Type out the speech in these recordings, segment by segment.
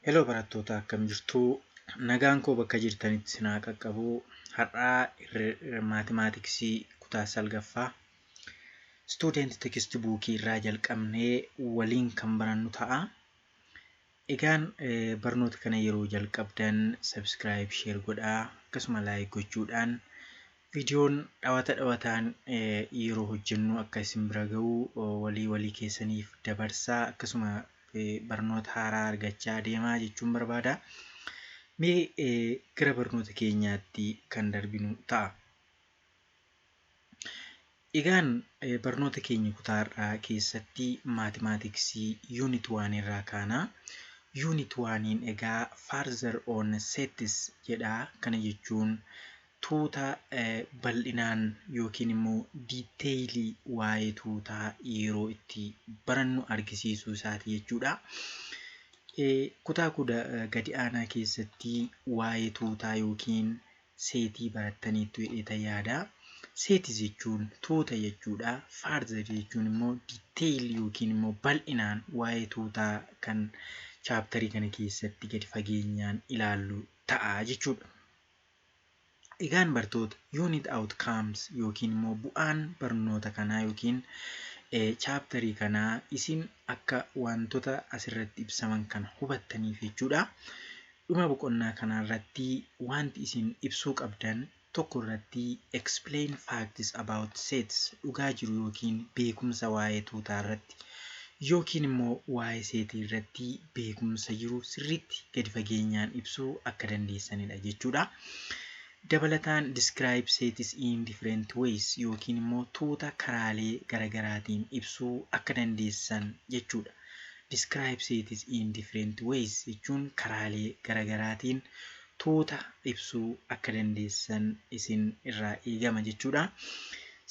Heloo barattoota akkam jirtu? Nagaan koo bakka jirtanitti isin haa qaqqabu. Har'aa maatimaatiksii kutaa salgaffaa istuudenti teksti buukii irraa jalqabnee waliin kan barannu ta'a. Egaan barnoota kana yeroo jalqabdan subscribe share godhaa akkasuma like gochuudhaan viidiyoon dhawata dhawataan yeroo hojjennu akka isin bira ga'u walii walii keessaniif dabarsaa akkasuma barnoota haaraa argachaa deemaa jechuun barbaada. Mee gara barnoota keenyaatti kan darbinu ta'a. Egaan barnoota keenya kutaa har'aa keessatti maatimaatiksii yuunit waan irraa kaana. Yuunit waaniin egaa further on sets jedha. Kana jechuun tuuta bal'inaan yookiin immoo diiteeyilii waa'ee tuutaa yeroo itti barannu argisiisuu isaati jechuudha. Kutaa kuda gadi aanaa keessatti waa'ee tuutaa yookiin seetii barattaniittu jedheetan yaada. Seeti jechuun tuuta jechuudha. Further jechuun immoo detail yookiin immoo bal'inaan waa'ee tuutaa kan chaaptarii kana keessatti gadi fageenyaan ilaallu ta'a jechuudha. Egaan bartoota unit outcomes yookiin immoo bu'aan barnoota kanaa yookiin chaaptarii kanaa isin akka wantoota asirratti ibsaman kana hubattaniif jechuudha. Dhuma boqonnaa kanaa irratti waanti isin ibsuu qabdan tokko irratti explain facts about sets dhugaa jiru ykn beekumsa waa'ee tuutaa irratti ykn immoo waa'ee seetii irratti beekumsa jiru sirriitti gadi fageenyaan ibsuu akka dandeessanidha jechuudha. Dabalataan describe sets in different ways ykn immoo tuuta karaalee garagaraatiin ibsuu akka dandeessan jechuudha. describes it in different ways jechuun karaalee garagaraatiin tuuta ibsuu akka dandeessan isin irraa eegama jechuudha.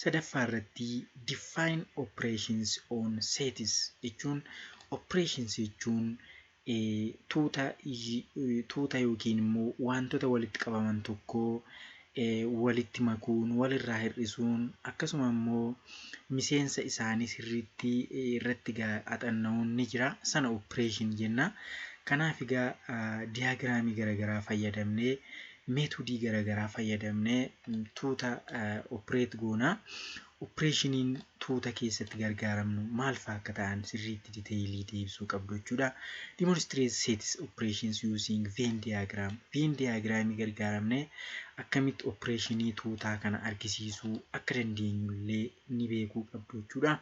Sadaffaa irratti define operations on sets jechuun operations jechuun tuuta tuuta yookiin immoo waantota walitti qabaman tokkoo walitti makuun, wal irraa hir'isuun akkasuma immoo miseensa isaanii sirriitti irratti egaa axanna'uun ni jira. Sana operation jenna. Kanaaf egaa diyaagiraamii garaagaraa fayyadamnee meetodii garaagaraa fayyadamnee tuuta operate goona. Oppireeshiniin tuuta keessatti gargaaramnu maal faa akka ta'an sirriitti diteeyilii ta'e ibsuu qabdu jechuudha. Demonstrate sets operations using Venn diagram. Venn diagram gargaaramne akkamitti oppireeshinii tuutaa kana argisiisuu akka dandeenyu illee ni beekuu qabdu jechuudha.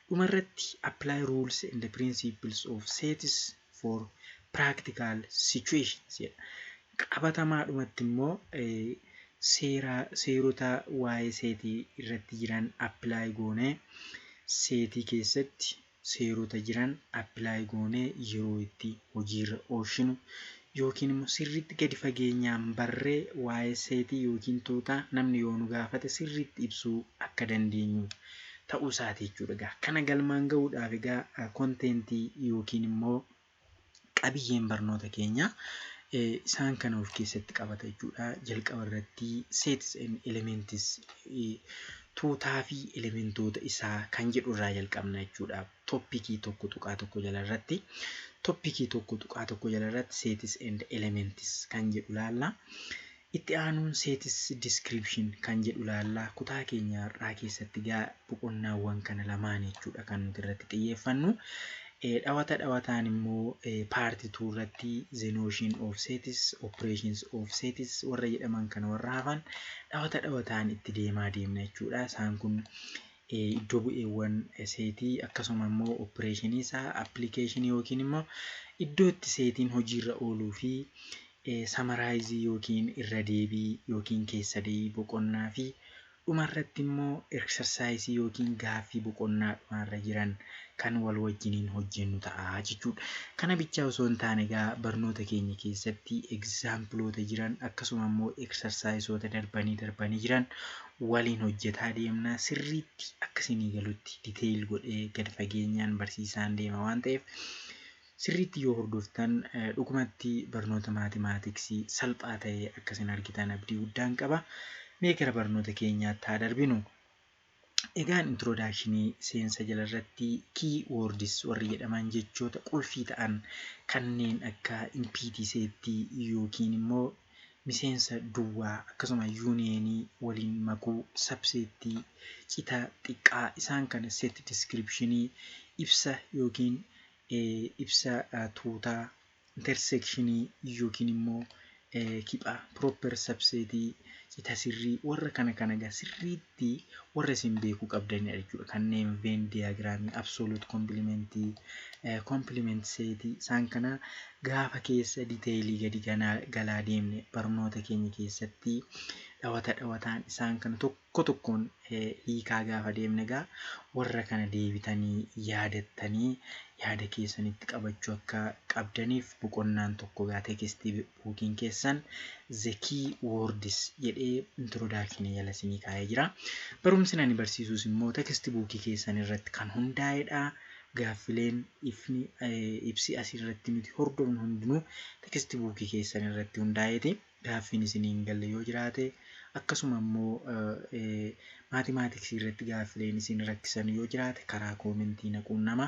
Dhumarratti apply rules and principles of sets for practical situations jedha. Qabatamaadhumatti immoo seera seerota waa'ee seetii irratti jiran apply goonee seetii keessatti seerota jiran apply goonee yeroo itti hojiirra oolshinu yookiin immoo sirriitti gadi fageenyaan barree waa'ee seetii yookiin tuutaa namni yoo nu gaafate sirriitti ibsuu akka dandeenyu ta'uu isaati jechuudha. Egaa kana galmaan gahuudhaaf egaa konteentii yookiin immoo qabiyyeen barnoota keenyaa isaan kana of keessatti qabata jechuudha. Jalqaba irratti sets and elements tuutaa fi elementoota isaa kan jedhu irraa jalqabna jechuudha. Toppikii tokko tuqaa tokko jala irratti toppikii tokko tuqaa tokko jala irratti sets and elements kan jedhu laalla. Itti aanuun Sets Description kan jedhu ilaalla. Kutaa keenya har'aa keessatti egaa boqonnaawwan kana lamaan jechuudha kan nuti irratti xiyyeeffannu. Eh, Dhawata dhawataan immoo eh, part 2 irratti the notion of sets, operations of sets warra jedhaman kana warra hafan dhawata dhawataan itti deemaa deemna jechuudha. Isaan kun eh, iddoo bu'eewwan eh, seetii akkasuma immoo opereeshinii isaa appilikeeshinii yookiin immoo iddoo itti seetiin hojiirra ooluu fi Samaaraayizii ykn irra deebii ykn keessa deebii boqonnaa fi dhuma irratti immoo eksarsaayisii ykn gaaffii boqonnaa dhumaa irra jiran kan wal wajjiniin hojjennu ta'a jechuudha. Kana bichaa osoo hin taane egaa barnoota keenya keessatti egzaampiloota jiran akkasuma immoo eksarsaayisoota darbanii darbanii jiran waliin hojjetaa deemna. Sirriitti akka isinii galutti detail godhee gad fageenyaan barsiisaan deema waan ta'eef sirriitti yoo hordoftan dhugumatti barnoota maatimaatiksii salphaa ta'e akka isin argitan abdii guddaan qaba. Mee gara barnoota keenyaatti haa darbinu. Egaan introdakshinii seensa jala irratti key words warri jedhaman jechoota qulfii ta'an kanneen akka impiitii seettii yookiin immoo miseensa duwwaa akkasuma yuuniyeenii waliin makuu sabseettii cita xiqqaa isaan kana setti diskiripshinii ibsa yookiin ibsa tuutaa, interseekshinii yookiin immoo kiphaa, proper subset, cita sirrii warra kana kana egaa sirriitti warra isin beekuu qabdanidha jechuudha. Kanneen Venn diagram, absolute complement, complement set isaan kana gaafa keessa diteelii gadi ganaa galaa deemne barnoota keenya keessatti dhawata dhawataan isaan kana tokko Tokko tokkoon hiikaa gaafa deemne egaa warra kana deebitanii yaadattanii yaada keessanitti qabachuu akka qabdaniif boqonnaan tokko egaa text book'n keessan the key words jedhee introduction jala isinii kaa'ee jira. Barumsni ani barsiisuus immoo text book keessan irratti kan hundaa'edha. Gaaffileen ifni ibsi asirratti nuti hordofnu hundinuu text book keessan irratti hundaa'eeti. gaaffiin isinii hin galle yoo jiraate akkasuma immoo maatimaatiksii irratti gaaffileen isin rakkisan yoo jiraate karaa koomentii na quunnama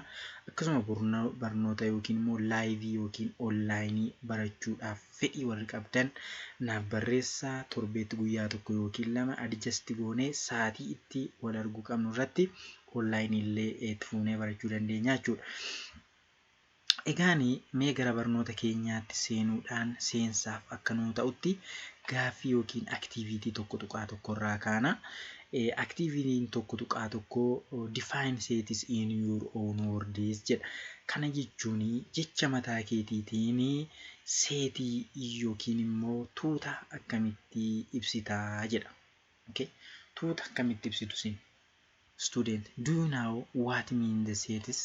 akkasuma burno- barnoota yookiin immoo laayivii yookiin onlaayinii barachuudhaaf fedhii warri qabdan naaf barreessaa torbeetti guyyaa tokko yookiin lama adjasti goonee sa'aatii itti wal arguu qabnu irratti onlaayinii illee itti fuunee barachuu dandeenya jechuudha. Egaani mee gara barnoota keenyaatti seenuudhaan seensaaf akka nuu ta'utti gaaffii yookiin aktiiviitii 1.1 irraa kaana. Aktiiviitiin 1.1 define sets in your own words jedha. Kana jechuun jecha mataa keetiitiin seetii yookiin immoo tuuta akkamitti ibsita jedha. Okay. Tuuta akkamitti ibsitu isin? Student, do you know what mean the sets?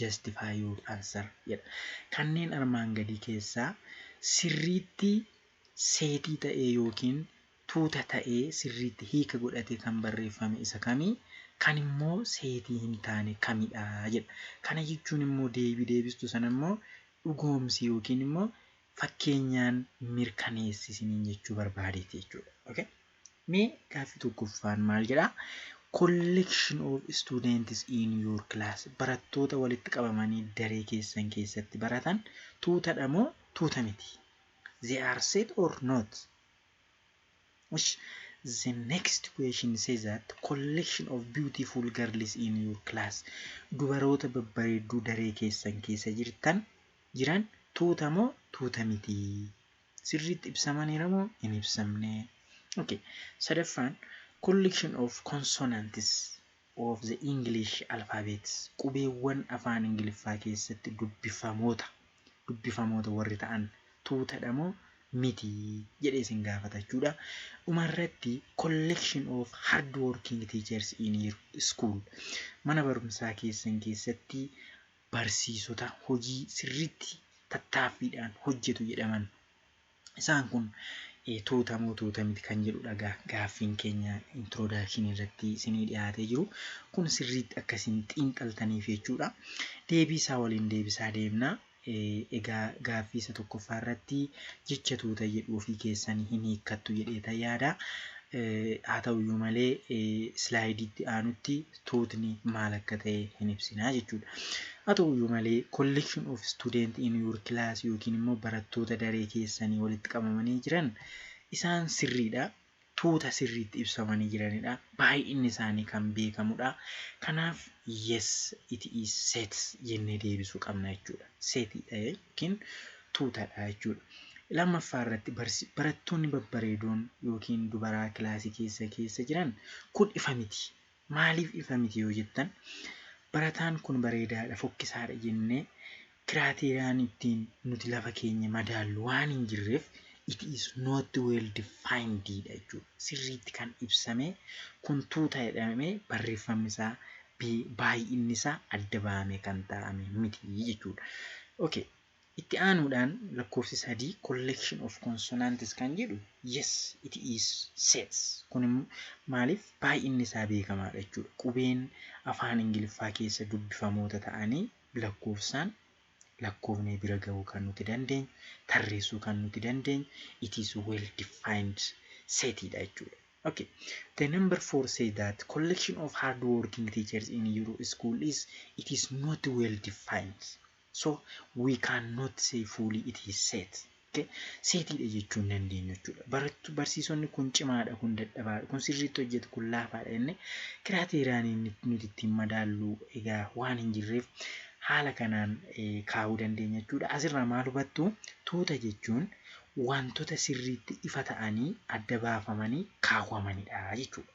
Justify your answer jedha. Kanneen armaan gadii keessaa sirriitti seetii ta'ee ykn tuuta ta'ee sirriitti hiika godhatee kan barreeffame isa kami? Kan immoo seetii hin taane kamidha? jedha. Kana jechuun immoo deebii deebistu sana immoo dhugoomsi ykn immoo fakkeenyaan mirkaneessi isiniin jechuu barbaadeeti jechuudha. Okay? Mee gaaffii tokkoffaan maal jedha? Collection of students in your class. Barattoota walitti qabamanii daree keessan keessatti baratan tuutadha moo tuuta miti? They are set or not? Ish, The next question says that collection of beautiful girls in your class. Dubaroota babbareedduu daree keessan keessa jirtan jiran tuuta moo tuuta miti? sirriitti ibsamaniira moo hin ibsamne? ok sadaffaan collection of consonants of the English alphabet qubeewwan afaan ingiliffaa keessatti dubbifamoota dubbifamoota warri ta'an tuutadha moo miti jedhee isin gaafata jechuudha dhumarratti collection of hard working teachers in your school mana barumsaa keessan keessatti barsiisota hojii sirriitti tattaaffiidhaan hojjetu jedhaman. Isaan kun tuuta moo tuuta miti kan jedhudha egaa gaaffiin keenya introduction irratti isinii dhiyaatee jiru. Kun sirriitti akka isin xiinxaltaniif jechuudha. Deebii isaa waliin deebisaa deemna. Egaa gaaffii isa tokkoffaa irratti jecha tuuta jedhu ofii keessanii hin hiikkattu jedheeta yaada. Haa ta'uyyuu malee islaayidiitti aanutti tuutni maal akka ta'e hin ibsinaa jechuudha. Haa ta'uyyuu malee collection of student in your class yookiin immoo barattoota daree keessanii walitti qabamanii jiran isaan sirriidha. Tuuta sirriitti ibsamanii jiranidha. Baay'inni isaanii kan beekamudha. Kanaaf yes it is sets jennee deebisuu qabna jechuudha. Setiidha yookiin tuutadha jechuudha. Lammaffaa irratti barattoonni babbareedoon yookiin dubaraa kilaasii keessa keessa jiran kun ifa miti. Maaliif ifa miti yoo jettan, barataan kun bareedaadha, fokkisaadha jennee kiraateeriyaan ittiin nuti lafa keenya madaallu waan hin jirreef it is not well defined dha jechuudha. Sirriitti kan ibsamee kun tuuta jedhamee barreeffamni isaa baay'inni isaa adda bahamee kan taa'ame miti jechuudha. Okay. Itti aanuudhaan lakkoofsi 3 collection of consonants kan jedhu yes it is sets kun immoo maaliif baay'inni isaa beekamaadha jechuudha qubeen afaan ingiliffaa keessa dubbifamoota ta'anii lakkoofsaan lakkoofnee bira gahuu kan nuti dandeenyu tarreessuu kan nuti dandeenyu it is well defined set dha jechuudha. Okay. The number 4 say that collection of hard working teachers in your school is it is not well defined. So we can not say fully it is set. Okay? Seetiidha jechuu hin dandeenyu jechuudha. Barattu barsiisonni kun cimaadha, kun dadhabaadha, kun sirriitti hojjetu, kun laafaadha jennee kiraateeriyaan inni nuti ittiin madaallu egaa waan hin jirreef haala kanaan eh, kaa'uu dandeenya jechuudha. Asirraa maal hubattu? Tuuta jechuun wantoota sirriitti ifa ta'anii adda baafamanii kaawwamanidha jechuudha.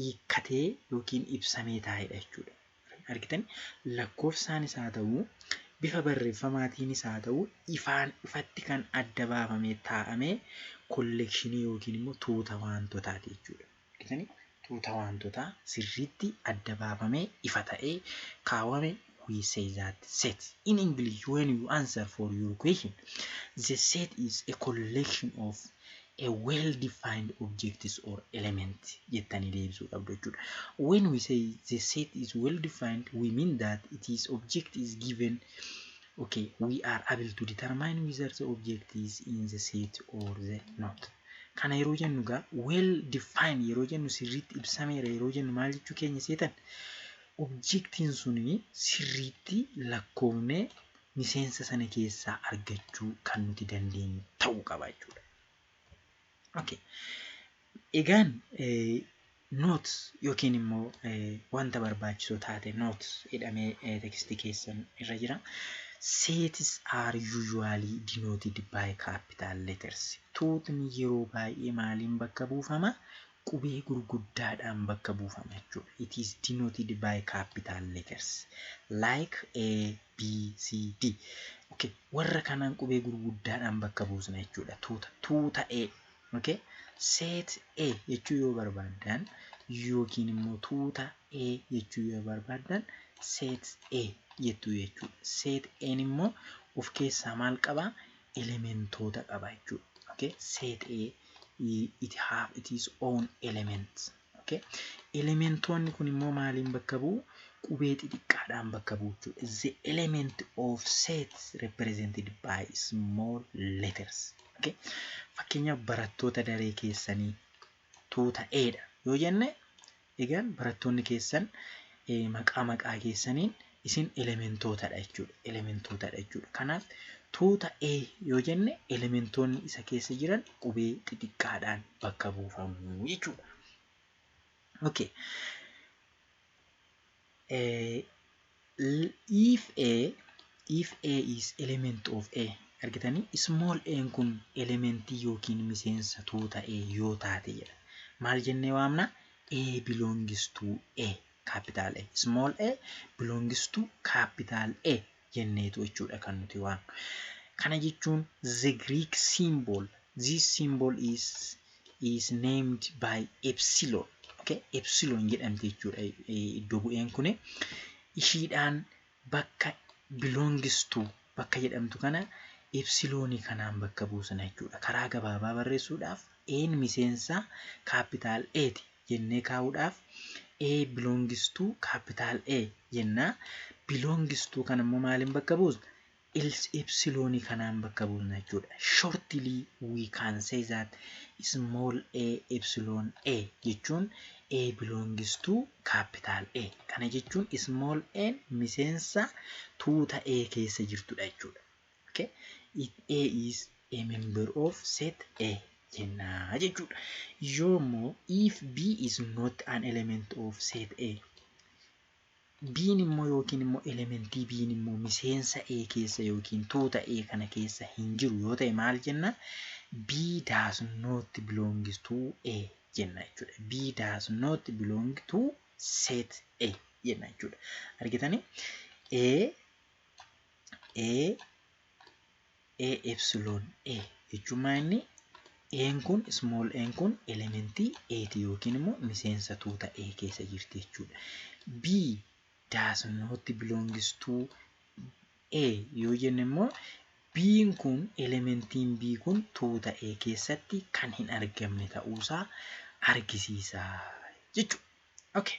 hiikkatee yookiin ibsamee taa'edha jechuudha. Argitanii? Lakkoofsaanis haa ta'uu, bifa barreeffamaatiinis haa ta'uu ifaan ifatti kan adda baafamee taa'ame kolleekshinii yookiin immoo tuuta waantotaati jechuudha. Argitanii? Tuuta waantotaa sirriitti adda baafamee ifa ta'ee kaawame we say that set in English when you answer for your question the set is a collection of a well defined objects or element jettanii deebisuu qabdu jechuudha. When we say the set is well defined we mean that it is object is given okay we are able to determine whether the object is in the set or the not. Kana yeroo jennu gaa well defined yeroo jennu sirriitti ibsameera yeroo jennu maal jechuu keenya seetan Objektiin sun sirriitti lakkoofnee miseensa sana keessaa argachuu kan nuti dandeenyu ta'uu qaba jechuudha. Okay. Egaan notes yookiin immoo wanta barbaachisoo taate notes jedhamee tekstii keessan irra jira. Sets are usually denoted by capital letters. Tuutni yeroo baay'ee maaliin bakka buufama? qubee gurguddaadhaan bakka buufama jechuudha. It is denoted by capital letters like A, B, C, D. Okay. Warra kanaan qubee gurguddaadhaan bakka buusna jechuudha. Tuuta, tuuta A. Okay. Set A jechuu yoo barbaaddan yookiin immoo tuuta A jechuu yoo barbaaddan set A jettuu jechuudha. Set A'n immoo of keessaa maal qabaa? elementoota qaba jechuudha. Okay? Set A it have its own elements. Okay? Elementoonni kun immoo maaliin bakka bu'u? Qubee xixiqqaadhaan bakka bu'u jechuudha. The element of set represented by small letters. Okay? Fakkeenyaaf barattoota daree keessanii tuuta A dha yoo jenne Egaan barattoonni keessan maqaa maqaa keessaniin isin elementootadha jechuudha. Elementootadha jechuudha. Kanaaf tuuta A yoo jenne elementoonni isa keessa jiran qubee xixiqqaadhaan bakka buufamu jechuudha. Okay. if A if A is element of A argitanii small a kun elementii yookiin miseensa tuuta A yoo taate jedha maal jennee waamna A belongs to A capital A small a belongs to capital A jenneetu jechuudha kan nuti waan kana jechuun the Greek symbol this symbol is is named by epsilon okay epsilon jedhamti jechuudha iddo bu'een kun ishiidhaan bakka belongs to bakka jedhamtu kana epsilon kanaan bakka buusna jechuudha karaa gabaabaa barreessuudhaaf een miseensa capital A ti jennee kaa'uudhaaf A belongs to capital A jenna. Belongs to kana immoo maaliin bakka buusna? Ils epsilon kanaan bakka buusna jechuudha. Shortly we can say that small a epsilon A jechuun A belongs to capital A. Kana jechuun small A miseensa tuuta A keessa jirtudha jechuudha. Okay. If A is a member of set A jenna jechuudha. Yoo immoo if B is not an element of set A B'n immoo yookiin immoo elementii B'n immoo miseensa A keessa yookiin tuuta A kana keessa hin jiru yoo ta'e maal jenna? B does not belong to A jenna jechuudha. B does not belong to set A jenna jechuudha. Argitanii? A A A epsilon A jechuun maa inni A'n kun small n kun elementii A ti yookiin immoo miseensa tuuta A keessa jirti jechuudha. B does not belongs to A yoo jenne immoo B'n kun elementiin B kun tuuta A keessatti kan hin argamne ta'uusaa argisiisa jechuudha. Okay.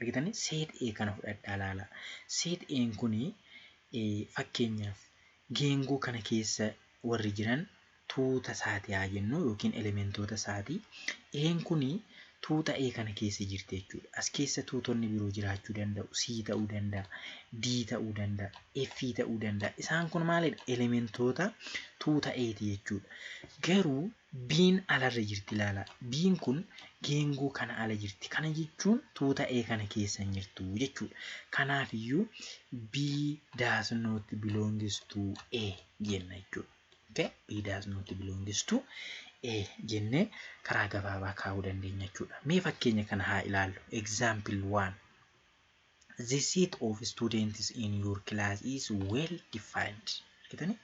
Argitanii? Seet A kana fudhadhaa laalaa. Seet A'n kuni fakkeenyaaf geengoo kana keessa warri jiran tuuta isaati haa jennu yookiin elementoota isaati. A'n kuni tuuta A kana keessa jirti jechuudha. As keessa tuutonni biroo jiraachuu danda'u. C ta'uu danda'a, D ta'uu danda'a, F ta'uu danda'a. Isaan kun maalidha? Elementoota tuuta A'ti jechuudha. Garuu B'n alarra jirti ilaala. B'n kun geengoo kana ala jirti. Kana jechuun tuuta A kana keessa hin jirtu jechuudha. Kanaafiyyuu B does not belongs to A jenna jechuudha. Okay? B does not belongs to A jennee karaa gabaabaa kaa'uu dandeenya jechuudha. Mee fakkeenya kana haa ilaallu. Example 1. The set of students in your class is well defined. Kitani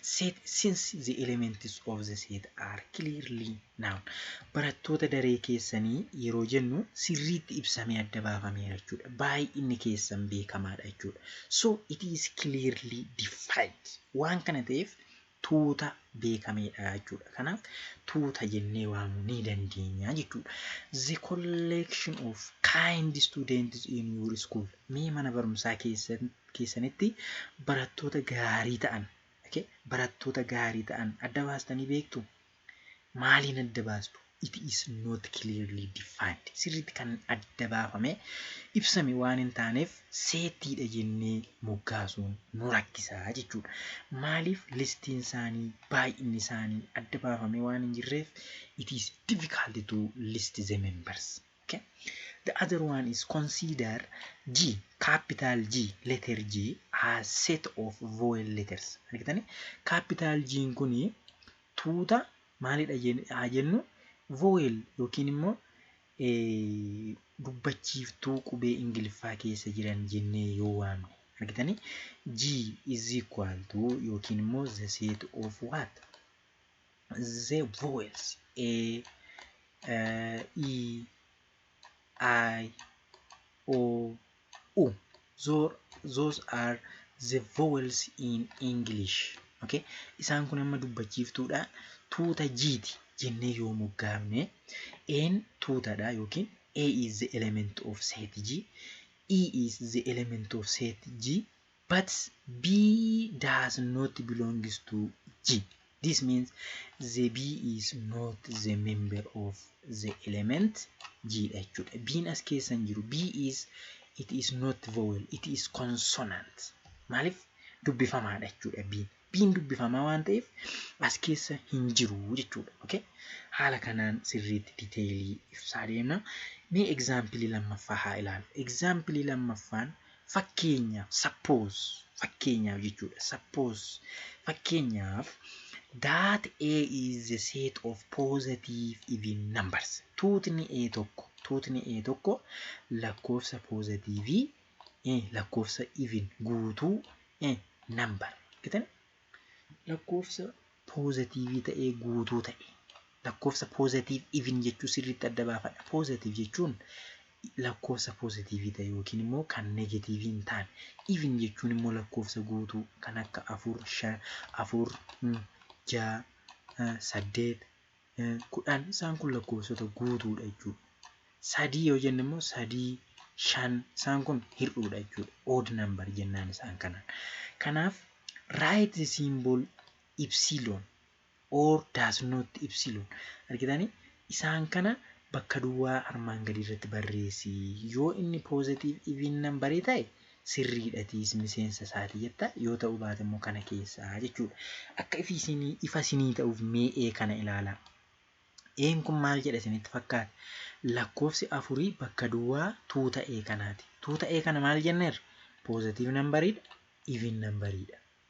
set since the elements of the set are clearly known. Barattoota daree keessanii yeroo jennu sirriitti ibsamee adda baafameera jechuudha. Baay'inni keessan beekamaadha jechuudha. So it is clearly defined. Waan kana ta'eef tuuta beekameedha jechuudha. Kanaaf tuuta jennee waamuu ni dandeenya jechuudha. The collection of kind students in your school. Mee mana barumsaa keessan- keessanitti barattoota gaarii ta'an okay? barattoota gaarii ta'an adda baastanii beektu? maaliin adda baastu? It is not clearly defined. Sirriitti kan adda baafame, ibsame waan hin taaneef seettiidha jennee moggaasuun nu rakkisa jechuudha. Maaliif listiin isaanii, baay'inni isaanii adda baafamee waan hin jirreef it is difficult to list the members. Okay? The other one is consider G, capital G, letter G as set of vowel letters. Argitanii? Capital G'n kuni Tuuta maalidha haa jennu vowel yookiin immoo dubbachiiftuu qubee Ingiliffaa keessa jiran jennee yoo waamne. Argitanii? G is equal to yookiin immoo the set of what? The vowels A, E, I, O, u. Those, those are the vowels in English. Okay? Isaan kun amma dubbachiiftuudha. Tuuta jiiti jennee yoo moggaafne N tuutadha yookiin A is the element of set G, E is the element of set G, But B does not belongs to G. This means the B is not the member of the element G dha jechuudha. B'n as keessa hin jiru. B is it is not vowel, it is consonant. Maaliif dubbifamaadha jechuudha B'n. dubbiin dubbifamaa waan ta'eef as keessa hin jiru jechuudha. Okay? Haala kanaan sirriitti diteelii ibsaa deemna. Mee egzaampilii lammaffaa haa ilaalu. Egzaampilii lammaffaan fakkeenyaaf sappoos fakkeenyaaf jechuudha. Sappoos fakkeenyaaf that A is the set of positive even numbers. Tuutni A tokko tuutni A tokko lakkoofsa poozatiivii lakkoofsa even guutuu number argitan lakkoofsa poozatiivii ta'ee guutuu ta'e lakkoofsa poozatiiv even jechuu sirriitti adda baafadha poozatiiv jechuun lakkoofsa poozatiivii ta'e yookiin immoo kan negatiivii hin taane even jechuun immoo lakkoofsa guutuu kan akka afur shan afur ja'a saddeet 10 isaan kun lakkoofsota guutuudha jechuudha. Sadii yoo jenne immoo sadii shan isaan kun hir'uudha jechuudha. Odd number jennaan isaan kanaan. Kanaaf write the symbol epsilon or does not epsilon argitanii isaan kana bakka duwwaa armaan gadii irratti barreessi yoo inni positive even number ta'e sirriidha atiis miseensa isaati jetta yoo ta'uu baate immoo kana keessaa jechuudha akka ifi isinii ifa isinii ta'uuf mee ee kana ilaalaa een kun maal jedha isinitti fakkaata lakkoofsi afurii bakka duwwaa tuuta ee kanaati tuuta ee kana maal jenneerra poozatiiv nambariidha iviin nambariidha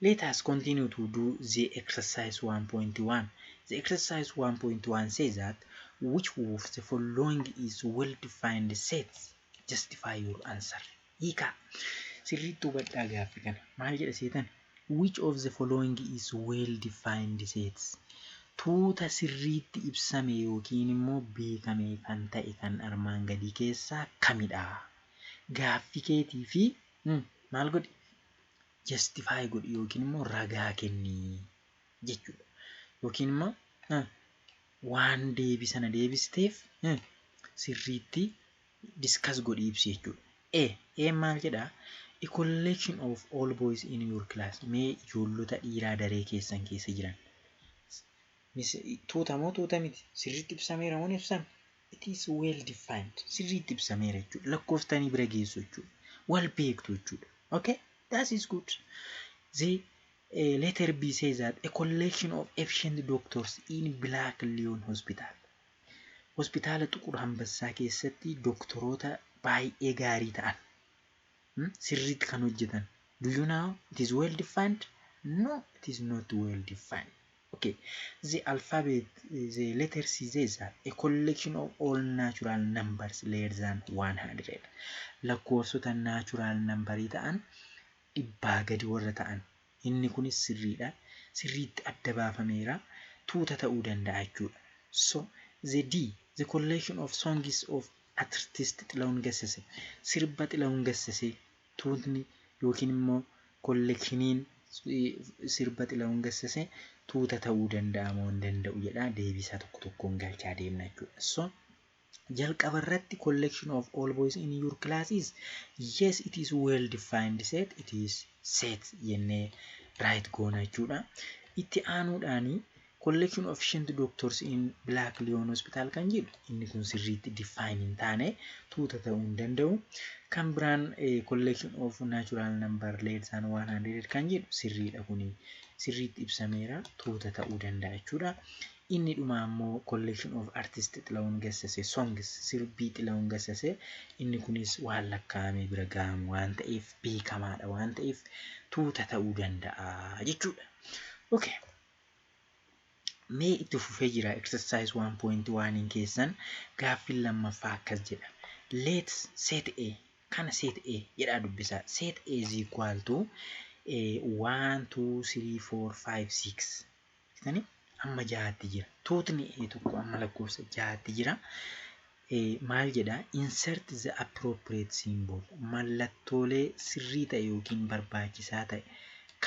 Let us continue to do the exercise 1.1. The exercise 1.1 says that which of the following is well-defined sets? Justify your answer. Hiikaa. Sirriitti hubadhaa gaaffi kana. Maal jedha seetan? Which of the following is well-defined sets? Tuuta sirriitti ibsame yookiin immoo beekame kan ta'e kan armaan gadii keessaa kamidha? Gaaffi keetii fi maal godhi? Justify godhi yookiin immoo ragaa kenni jechuudha. Yookiin immoo eh, waan deebii sana deebisteef eh, sirriitti discuss godhi ibsi jechuudha. E, E maal jedhaa? A collection of all boys in your class. Mee ijoollota dhiiraa daree keessan keessa jiran. Mis- Tuuta moo tuuta miti? Sirriitti ibsameera moo hin ibsame? It is well defined. Sirriitti ibsameera jechuudha. Lakkooftanii bira geessu jechuudha. Wal beektu jechuudha. Okay? That is good. The eh, letter B says that a collection of efficient doctors in Black Leon Hospital. Hospitaala Xuqur Hambassaa keessatti doktoroota baay'ee gaarii ta'an hmm, sirriitti kan hojjetan. Do you know it is well defined? No, it is not well defined. Ok. The alphabet, the letters these are a collection of all natural numbers less than 100. Lakkoofsota natural numberii ta'an dhibbaa gadi warra ta'an. Inni kunis sirriidha. Sirriitti adda baafameera. Tuuta ta'uu danda'a jechuudha. So, the D, the collection of songs of artist Xilahun Gassese. Sirba Xilahun Gassese Tuutni yookiin immoo kollekshiniin sirba Xilahun Gassase tuuta ta'uu danda'a moo hin danda'u jedhaa deebiisaa tokko tokkoon galchaa deemna jechuudha. So jalqaba irratti collection of all boys in your class is yes it is well defined set it is set jennee right goona jechuudha. Itti aanuudhaani Collection of Shent Doctors in Black Lion Hospital kan jedhu inni kun sirriitti define hin taane tuuta ta'uu hin danda'u. Kan biraan Collection of Natural Number Less than 100 kan jedhu sirriidha kuni sirriitti ibsameera tuuta ta'uu danda'a jechuudha. Inni dhumaa immoo Collection of Artist Xilawun Gassase Songs sirbii Xilawun Gassase inni kunis waan lakkaa'amee bira ga'amu waan ta'eef beekamaadha waan ta'eef tuuta ta'uu danda'a jechuudha. Okay. Mee itti fufee jira exercise 1.1 keessan gaaffiin lammaffaa akkas jedha. Let set A kana set A jedhaa dubbisaa. Set A is equal to 1, 2, 3, 4, 5, 6. Jettanii amma jahaatti jira. Tuutni A tokko amma lakkoofsa jahaatti jira. Eh, Maal jedha? Insert the appropriate symbol. Mallattoolee sirrii ta'e yookiin barbaachisaa ta'e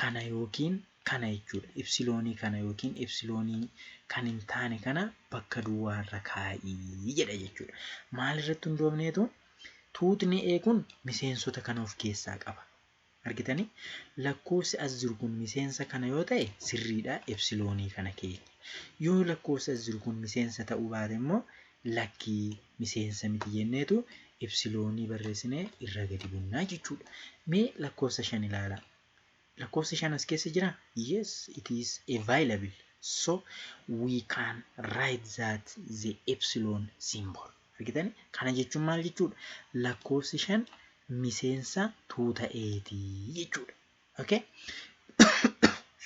kana yookiin kana jechuudha. Ipsiloonii kana yookiin ipsiloonii kan hin taane kana bakka duwwaa irra kaa'i jedha jechuudha. Maal irratti hundoofneetu tuutni A kun miseensota kana of keessaa qaba. Argitanii lakkoofsi as jiru kun miseensa kana yoo ta'e sirriidha ipsiloonii kana keenya. Yoo lakkoofsi as jiru kun miseensa ta'uu baate immoo lakkii miseensa miti jenneetu ipsiloonii barreessinee irra gadi bunnaa jechuudha. Mee lakkoofsa shan ilaalaa. Lakkoofsi 5 as keessa jiraa? Yes, it is available. So, we can write that the epsilon symbol. Argitani? Kana jechuun maal jechuudha? Lakkoofsi 5 miseensa tuuta eeti jechuudha. Okay?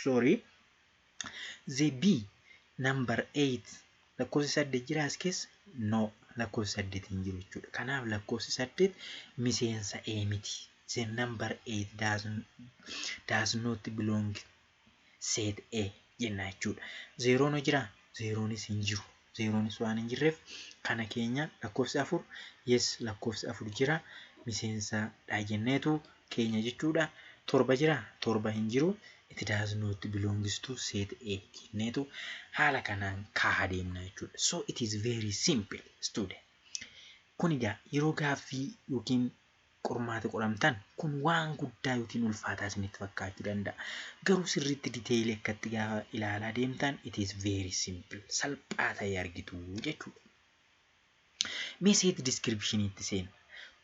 Sorry. ZB number 8 lakkoofsi 8 jira as keessa no lakkoofsi 8 hin jiru jechuudha. Kanaaf lakkoofsi 8 miseensa A miti. The number 8 does, does not belong set A jenna jechuudha. Zeeroon hoo jira? Zeeroonis hin jiru. zeeroonis waan hin jirreef kana keenya lakkoofsi afur yes lakkoofsi afur jira miseensa dha jenneetu keenya jechuudha torba jira torba hin jiru it does not belongs to set A jenneetu haala kanaan kaaha deemna jechuudha so it is very simple student kun egaa yeroo gaaffii yookiin qormaata qoramtan kun waan guddaa yookiin ulfaataa isinitti fakkaachuu danda'a. Garuu sirriitti detail akkatti gaafa ilaalaa deemtan it is very simple salphaa ta'ee argitu jechuudha. Mee seeti description itti seena.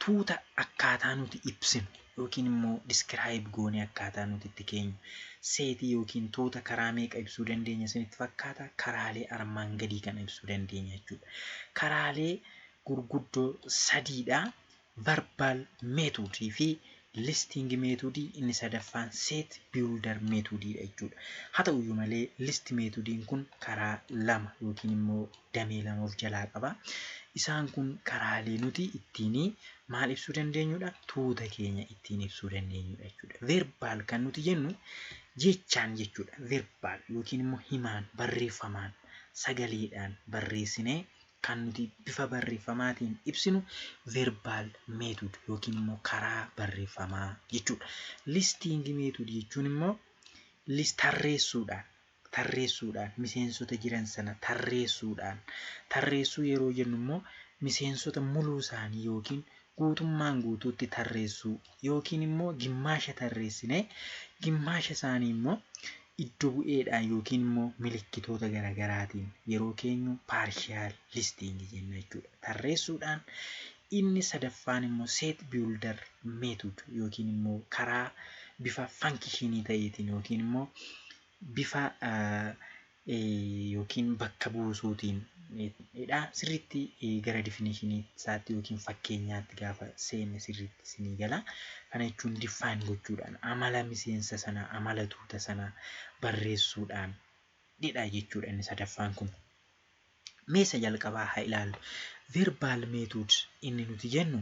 Tuuta akkaataa nuti ibsinu yookiin immoo describe goonee akkaataa nuti itti keenyu seetii yookiin tuuta karaa meeqa ibsuu dandeenya isinitti fakkaata? Karaalee armaan gadii kana ibsuu dandeenya jechuudha. Karaalee gurguddoo sadiidha. Verbal method fi listing method inni sadaffaan set builder method dha jechuudha. Haa ta'u iyyuu malee list method kun karaa lama yookiin immoo damee lama of jalaa qaba. Isaan kun karaalee nuti ittiin maal ibsuu dandeenyudha? Tuuta keenya ittiin ibsuu dandeenyudha jechuudha. Verbal kan nuti jennu jechaan jechuudha. Verbal yookiin immoo himaan barreeffamaan sagaleedhaan barreessinee kan nuti bifa barreeffamaatiin ibsinu verbal method yookiin immoo karaa barreeffamaa jechuudha. Listing method jechuun immoo list tarreessuudhaan tarreessuudhaan miseensota jiran sana tarreessuudhaan tarreessuu yeroo jennu immoo miseensota muluu isaanii yookiin guutummaan guutuutti tarreessuu yookiin immoo gimmaasha tarreessinee gimmaasha isaanii immoo iddo bu'eedhaan yookiin immoo milikkitoota gara garaatiin yeroo keenyu partial listing jenna jechuudha. Tarreessuudhaan inni sadaffaan immoo set builder method yookiin immoo karaa bifa fankishinii ta'eetiin yookiin immoo bifa yookiin bakka buusuutiin dha. Sirriitti gara definition isaatti yookiin fakkeenyaatti gaafa seenne sirriitti isinii gala. Kana jechuun define gochuudhaan, amala miseensa sanaa, amala tuuta sanaa barreessuudhaan dha jechuudha inni sadaffaan kun. Mee isa jalqabaa haa ilaallu. Verbal method inni nuti jennu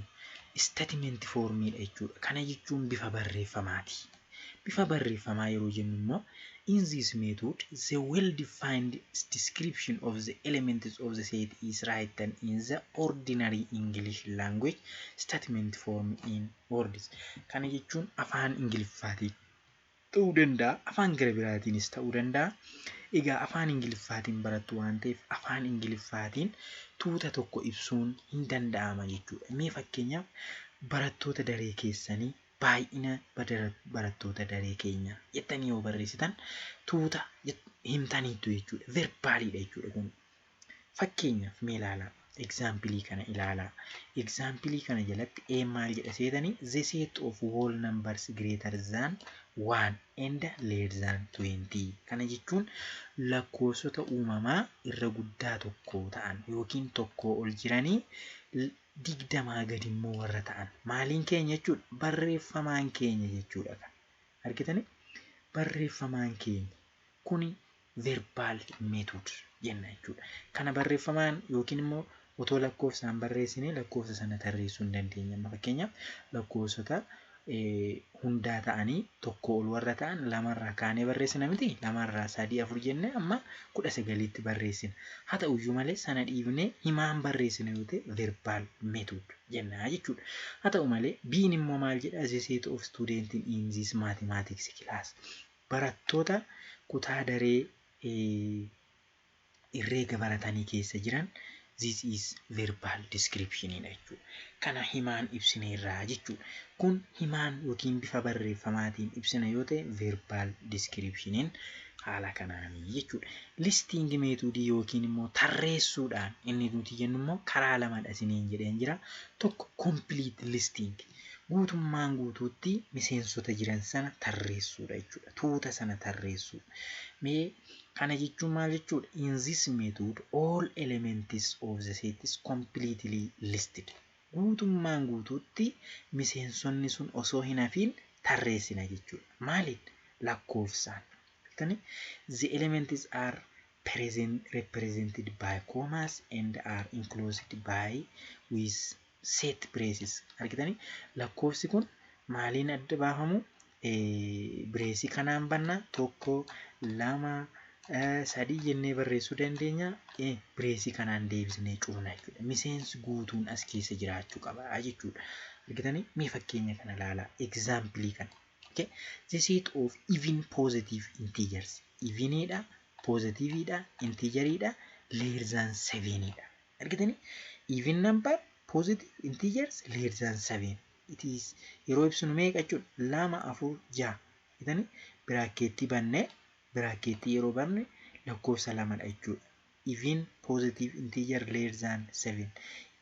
statement form dha jechuudha. Kana jechuun bifa barreeffamaati. Bifa barreeffamaa yeroo jennu immoo, In this method, the well-defined description of the elements of the set is written in the ordinary English language statement form in words. Kana jechuun afaan Ingiliffaatiin ta'uu danda'a, afaan gara biraatiinis ta'uu danda'a. Egaa afaan Ingiliffaatiin barattu waan ta'eef afaan Ingiliffaatiin tuuta tokko ibsuun hin danda'ama jechuudha. Mee fakkeenyaaf barattoota daree keessanii baay'ina barattoota daree keenyaa jettanii yoo barreessitan tuuta himtaniittu jechuudha. Verbaaliidha jechuudha kun. Fakkeenyaaf mee ilaalaa egzaampilii kana ilaalaa. Egzaampilii kana jalatti ee maal jedha seetanii the set of whole numbers greater than 1 and less than 20 kana jechuun lakkoofsota uumamaa irra guddaa tokko ta'an yookiin tokkoo ol jiranii digdamaa gadi immoo warra ta'an maaliin keenya jechuudha? Barreeffamaan keenya jechuudha kan. Argitanii? Barreeffamaan keenya. Kuni verbal method jenna jechuudha. Kana barreeffamaan yookiin immoo otoo lakkoofsaan barreessinee lakkoofsa sana tarreessuu hin dandeenya. Amma fakkeenyaaf lakkoofsota hundaa ta'anii tokko ol warra ta'an lamarraa kaanee barreessina miti lamarraa sadii afur jennee amma kudha sagaliitti barreessina haa ta'uyyuu malee sana dhiibnee himaan barreessina yoo ta'e verbaal method jennaa jechuudha haa ta'u malee biin immoo maal jedha as a set of student in this mathematics class barattoota kutaa daree Herreega baratanii keessa jiran this is verbal description dha jechuudha. Kana himaan ibsineerra jechuudha. Kun himaan yookiin bifa barreeffamaatiin ibsina yoo ta'e verbal description haala kanaani jechuudha. Listing method yookiin immoo tarreessuudhaan inni nuti jennu immoo karaa lamadha isiniin jedheen jira. Tokko complete listing guutummaan guutuutti miseensota jiran sana tarreessuudha jechuudha. Tuuta sana tarreessuu. Mee Kana jechuun maal jechuudha? In this method all elements of the set is completely listed. Guutummaan guutuutti miseensonni sun osoo hin hafiin tarreessina jechuudha. Maaliin? Lakkoofsaan. Beektanii? The elements are present, represented by commas and are enclosed by with set braces argitanii lakkoofsi kun maaliin adda baafamu bireesii kanaan banna tokko lama sadii jennee barreessuu dandeenya bireesii kanaan deebisnee cufna jechuudha miseensi guutuun as keessa jiraachuu qaba jechuudha argitanii mee fakkeenya kana ilaalaa egzaampilii kana okay the set of even positive integers eveniidha positiviidha integeriidha leerzaan seveniidha Argitanii? Even number positive integers less than 7 it is yeroo ibsinu meeqa jechuudha? lama afur jaha argitanii? biraakkeettii banne biraakkeettii yeroo banne lakkoofsa lamadha jechuudha. Even positive integer less than 7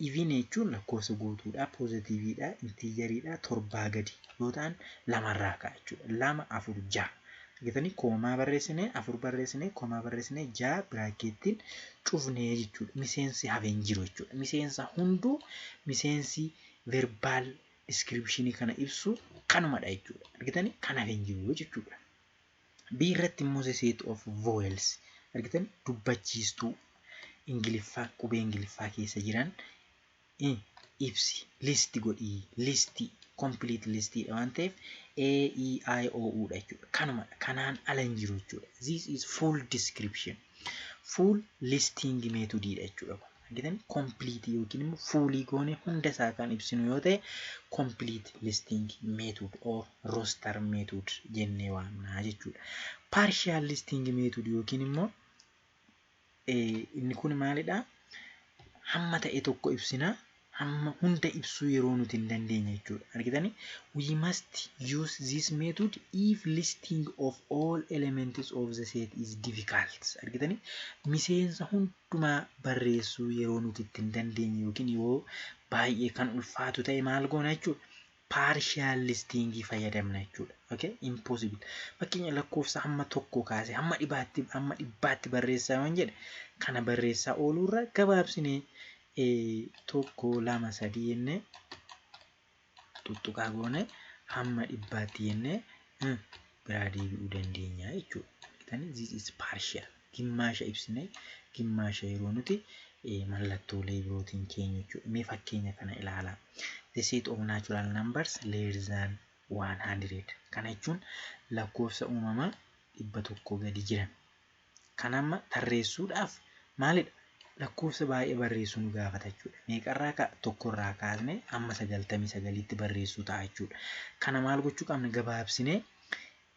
even jechuun lakkoofsa guutuudha positiviidha integeridha torbaa gadi yoo ta'an lamarraa ka'a jechuudha. lama afur jaha Argitanii koomaa barreessinee afur barreessinee koomaa barreessinee ja'a biraakkeettiin cufnee jechuudha. Miseensi hafe hin jiru jechuudha. Miseensa hunduu miseensi verbaal diskiripshinii kana ibsu kanumadha jechuudha. Argitanii kan hafe hin jiru jechuudha. B irratti immoo the set of vowels argitan dubbachiistuu ingiliffaa qubee ingiliffaa keessa jiran i. ibsi, list godhi, list, complete list dha waan ta'eef A, E, I, O, U dha jechuudha. Kanumadha. Kanaan ala hin jiru jechuudha. This is full description. Full listing method dha jechuudha kun. Argitan complete yookiin immoo fuulii goone hunda isaa kan ibsinu yoo ta'e complete listing method or roster method jennee waamna jechuudha. Partial listing method yookiin immoo inni kun maalidha? Hamma ta'e tokko ibsina. Hamma hunda ibsuu yeroo nuti hin dandeenye jechuudha. Argitanii? We must use this method if listing of all elements of the set is difficult. Argitanii? Miseensa hundumaa barreessuu yeroo nuti itti hin dandeenye yookiin yoo baay'ee kan ulfaatu ta'e maal goona jechuudha? partial listing fayyadamna jechuudha. Okay? Impossible. Fakkeenya lakkoofsa hamma tokko kaasee hamma dhibaatti hamma dhibbaatti barreessaa yoon jedhe kana barreessaa ooluurra gabaabsinee eh, tokko lama sadii jennee tuttuqaa goone hamma dhibbaatti jennee eh, biraa deebi'uu dandeenya jechuudha. Argitanii? This is partial. gimmaasha ibsine gimmaasha yeroo nuti mallattoolee birootiin keenyu jechuudha. Mee fakkeenya kana ilaalaa. The set of natural numbers less than 100 kana jechuun lakkoofsa uumamaa dhibba tokko gadi jiran kan amma tarreessuudhaaf maalidha? Lakkoofsa baay'ee barreessuu nu gaafata jechuudha. Meeqarraa ka'a? Tokkorraa kaasnee amma sagaltamii sagaliitti barreessuu ta'a jechuudha. Kana maal gochuu qabna? Gabaabsinee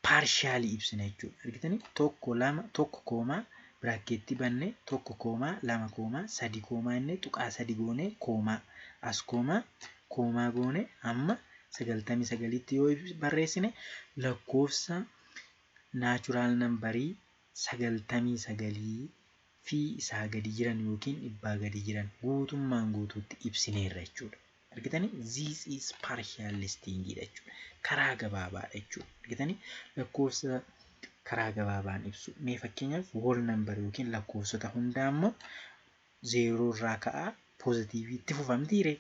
paarshaalii ibsina jechuudha. Argitanii tokko lama tokko koomaa biraakkeettii bannee tokko koomaa lama koomaa sadi koomaa inni tuqaa sadi goonee koomaa as koomaa koomaa goonee amma sagaltamii sagalitti yoo barreessine lakkoofsa naachuraal nambarii sagaltamii sagalii fi isaa gadi jiran yookiin dhibbaa gadi jiran guutummaan guutuutti ibsineerra jechuudha. Argitanii? This is partial listing dha jechuudha. Karaa gabaabaadha jechuudha. Argitanii? Lakkoofsa karaa gabaabaan ibsu. Mee fakkeenyaaf whole number yookiin lakkoofsota hundaa immoo zeeroo irraa ka'aa poozitiivii itti fufamtiire.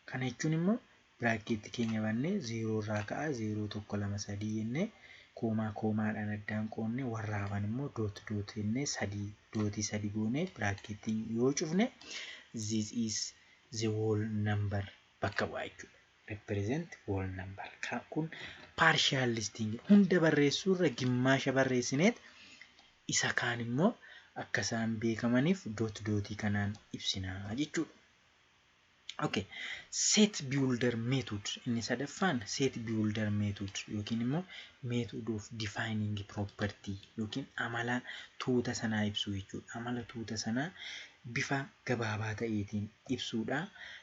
Kana jechuun immoo biraakeetti keenya bannee zeeroo irraa ka'aa zeeroo tokko lama sadii jennee koomaa koomaadhaan addaan qoonnee warra hafan immoo doot doot jennee sadii dootii sadii goonee biraakeettiin yoo cufne this is the whole number bakka bu'a jechuudha. represent whole number. Ka- Kun partial listing hunda barreessuu irra gimmaasha barreessineet isa kaan immoo akka isaan beekamaniif doot dootii kanaan ibsinaa jechuudha. Okay. Set builder method inni sadaffaan set builder method yookiin immoo method of defining property yookiin amala tuuta sanaa ibsuu jechuudha. Amala tuuta sanaa bifa gabaabaa ta'eetiin ibsuudha.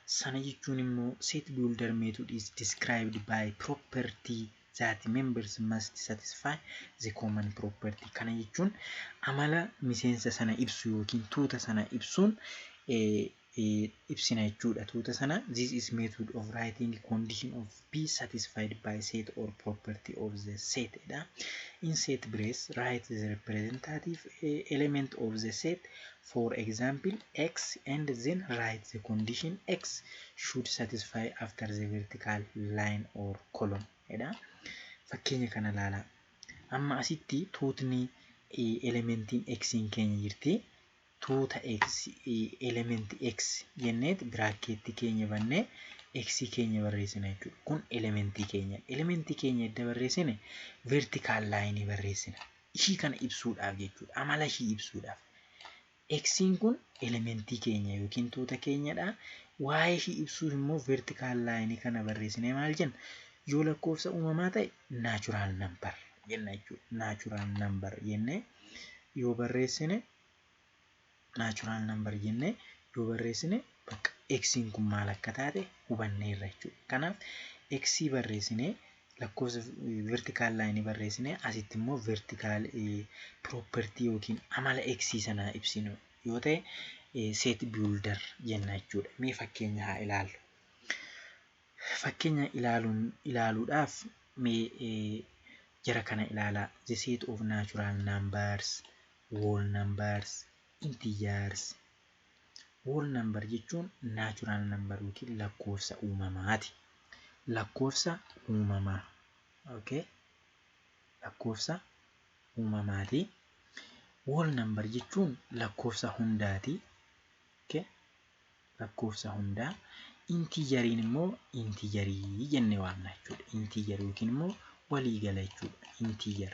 Sana jechuun immoo set builder method is described by property that members must satisfy the common property. Kana jechuun amala miseensa sana ibsu yookiin tuuta sana ibsuun ibsina jechuudha. Tuuta sana this is method of writing condition of be satisfied by set or property of the set dha. In set brace, write the representative element of the set, for example, x and then write the condition x should satisfy after the vertical line or column dha. Fakkeenya kana ilaalaa. Amma asitti tuutni elementiin x keenya jirti. tuuta x element x jenneet biraakkeetti keenya bannee x keenya barreessina jechuudha. Kun elementii keenya. Elementii keenya edda barreessine vertical line barreessina. Ishii kana ibsuudhaaf jechuudha. Amala ishii ibsuudhaaf. X'n kun elementii keenya yookiin tuuta keenyadha. Waa'ee ishii ibsuuf immoo vertical line kana barreessinee maal jenna? Yoo lakkoofsa uumamaa ta'e natural number jenna jechuudha. Natural number jennee yoo barreessine naachuraal nambar jennee yoo barreessine bakka eksiin kun maal akka taate hubanneerra jechuudha. Kanaaf eksii barreessinee lakkoofsa vertikaal laayinii barreessinee asitti immoo vertikaal piroopertii yookiin amala eksii sanaa ibsinu yoo ta'e seet biildar jenna jechuudha. Mee fakkeenya haa ilaallu. Fakkeenya ilaaluun ilaaluudhaaf mee jara kana ilaalaa the set of natural numbers Whole numbers, integers. Whole number jechuun natural number yookiin lakkoofsa uumamaati. Lakkoofsa uumamaa. Okay? Lakkoofsa uumamaati. Whole number jechuun lakkoofsa hundaati. Okay? Lakkoofsa hundaa. Intigeriin immoo intigerii jennee waamna jechuudha. Integer yookiin immoo waliigala jechuudha. Integer.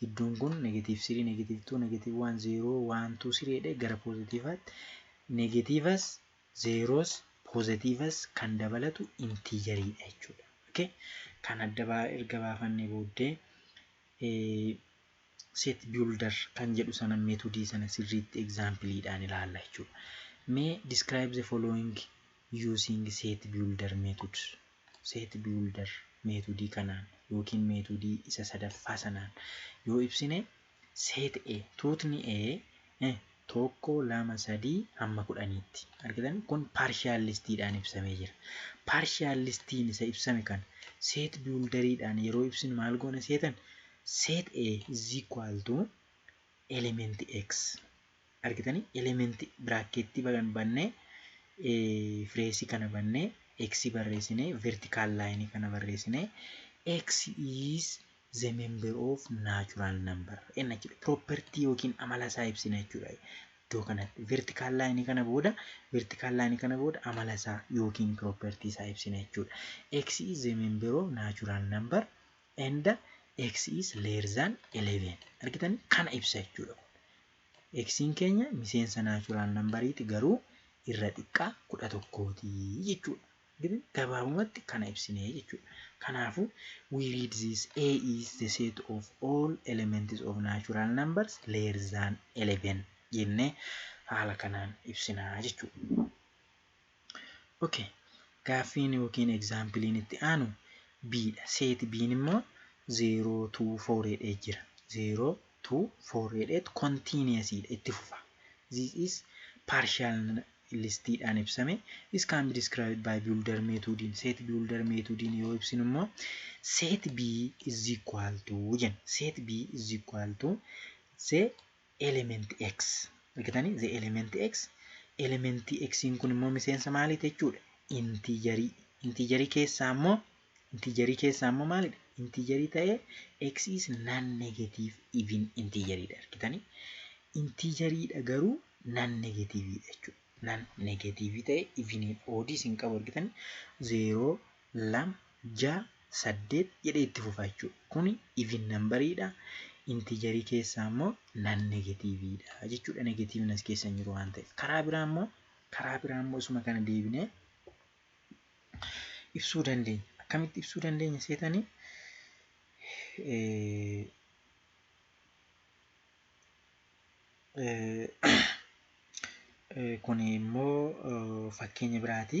gidduun kun negative 3 negative 2 negative 1 0 1 2 3 jedhee gara poozitiivaatti negatiivas zeeroos poozitiivas kan dabalatu intiijariidha jechuudha. Okay? Kan adda baa erga baafannee booddee set builder kan jedhu sana meetodii sana sirriitti egzaampiliidhaan ilaalla jechuudha. Mee describe the following using set builder method set builder meetodii kanaan ykn meetodii isa sadaffaa sanaan yoo ibsine set A tuutni A e 1 2 3 hamma 10 tti. Argitanii? Kun partial list dhaan ibsamee jira. Partial list n isa ibsame kana set builder dhaan yeroo ibsinu maal goona seetan? Set A is equal to element X. argitanii elementii biraakkeettii bagan bannee fireesii kana bannee x barreessinee vertical line kana barreessinee x is the member of natural number n jechuudha property yookiin amala isaa ibsina jechuudha iddoo kanatti vertical line kana booda vertical line kana booda amala isaa yookiin property isaa ibsina jechuudha x is the member of natural number and x is less than 11 argitan kana ibsa jechuudha xn keenya miseensa naachuraal nambariiti garuu irra xiqqaa kudha tokkooti jechuudha Gidan gabaabumatti kana ibsinee jechuudha kanaafu we read this a is the set of all elements of natural numbers less than 11 jennee haala kanaan ibsinaa jechuudha ok Gaaffiin ykn example'n itti aanu B dha. Set B'n immoo 0 to 4 jedhee jira. 0 to 4 jedheet continuous dha itti fufa. This is partial list dhaan ibsame. This can be described by builder method in set builder method in yoo ibsinu immoo set B is equal to jenna. Set B is equal to the element x argitanii the element x element x kun immoo miseensa maaliiti jechuudha intiijarii intiijarii keessaa immoo intiijarii keessaa immoo maalidha intiijarii ta'ee x is non negative even intiijariidha argitanii intiijariidha garuu non negativeidha jechuudha non negative ta'ee even oodiis hin qabu argitanii 0 2, 6, 8 jedhee itti fufa jechuudha. Kuni even number dha. Integer keessaa immoo non negative dha jechuudha. Negative as keessa hin jiru waan ta'eef. Karaa biraa immoo karaa biraa immoo isuma kana deebinee ibsuu dandeenya. Akkamitti ibsuu dandeenya seetanii? Kun immoo fakkeenya biraati.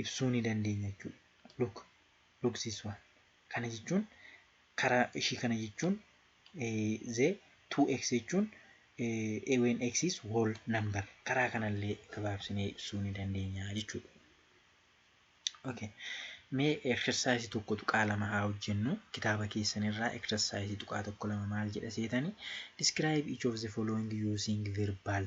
ibsuu ni dandeenya jechuudha. Look, look this one. Kana jechuun karaa ishii kana jechuun the 2x jechuun a when x is whole number karaa kanallee gabaabsinee ibsuu ni dandeenya jechuudha. Okay. Mee exercise tokko tuqaa lama haa hojjennu kitaaba keessanirraa exercise tuqaa tokko lama maal jedha seetani describe each of the following using verbal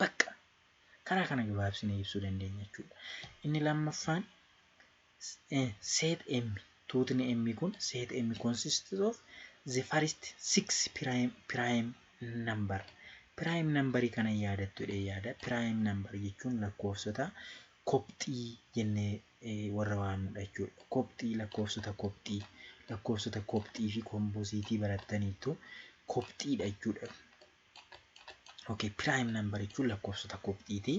Bakka karaa kana gabaabsinee ibsuu dandeenya jechuudha. Inni lammaffaan set M tuutni M kun set M consists of the first six prime, prime number. Prime number kana yaadattu jedhee yaada. Prime number jechuun lakkoofsota kopxii jennee warra waamnudha jechuudha. Kopxii lakkoofsota kopxii lakkoofsota kopxii fi kompoosiitii barattaniittu kopxiidha jechuudha. Okay, prime number jechuun lakkoofsota kopxiiti.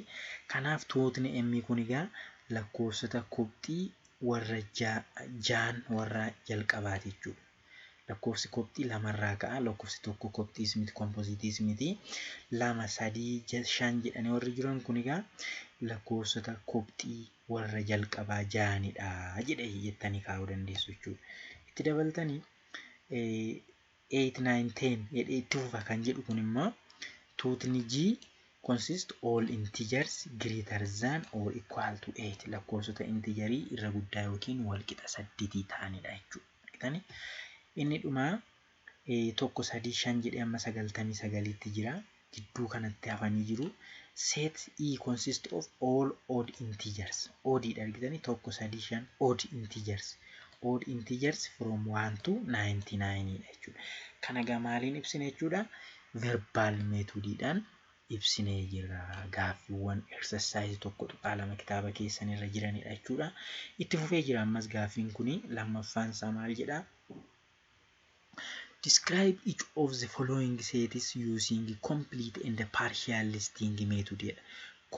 Kanaaf tuutni m kun egaa lakkoofsota kopxii warra jaan warra jalqabaati jechuudha. Lakkoofsi kopxii lamarraa ka'a. Lakkoofsi tokko kopxiis miti kompoziitiis miti. Lama sadii shan jedhanii warri jiran kun egaa lakkoofsota kopxii warra jalqabaa jaanidha jedhee jettanii kaa'uu dandeessu jechuudha. Itti dabaltanii eight, nine, ten jedhee itti fufa kan jedhu kun immoo tuutni G consist all integers greater than or equal to eight lakkoofsota integerii irra guddaa yookiin walqixa saddetii ta'anidha jechuudha. Inni dhumaa tokko sadii shan jedhee amma sagaltamii sagaliitti jira. gidduu kanatti hafanii jiru. Set E consists of all odd integers. Odd dha argitanii tokko sadii shan odd integers. Odd integers from 1 to 99 dha jechuudha. Kana egaa maaliin ibsine jechuudha? Verbal methodidhaan ibsinee jirra. Gaaffiiwwan exercise tokko tuqaa lama kitaaba keessan irra jiranidha jechuudha. Itti fufee jira ammas gaaffiin kun lammaffaan isaa maal jedha? Describe each of the following sets using complete and partial listing method jedha.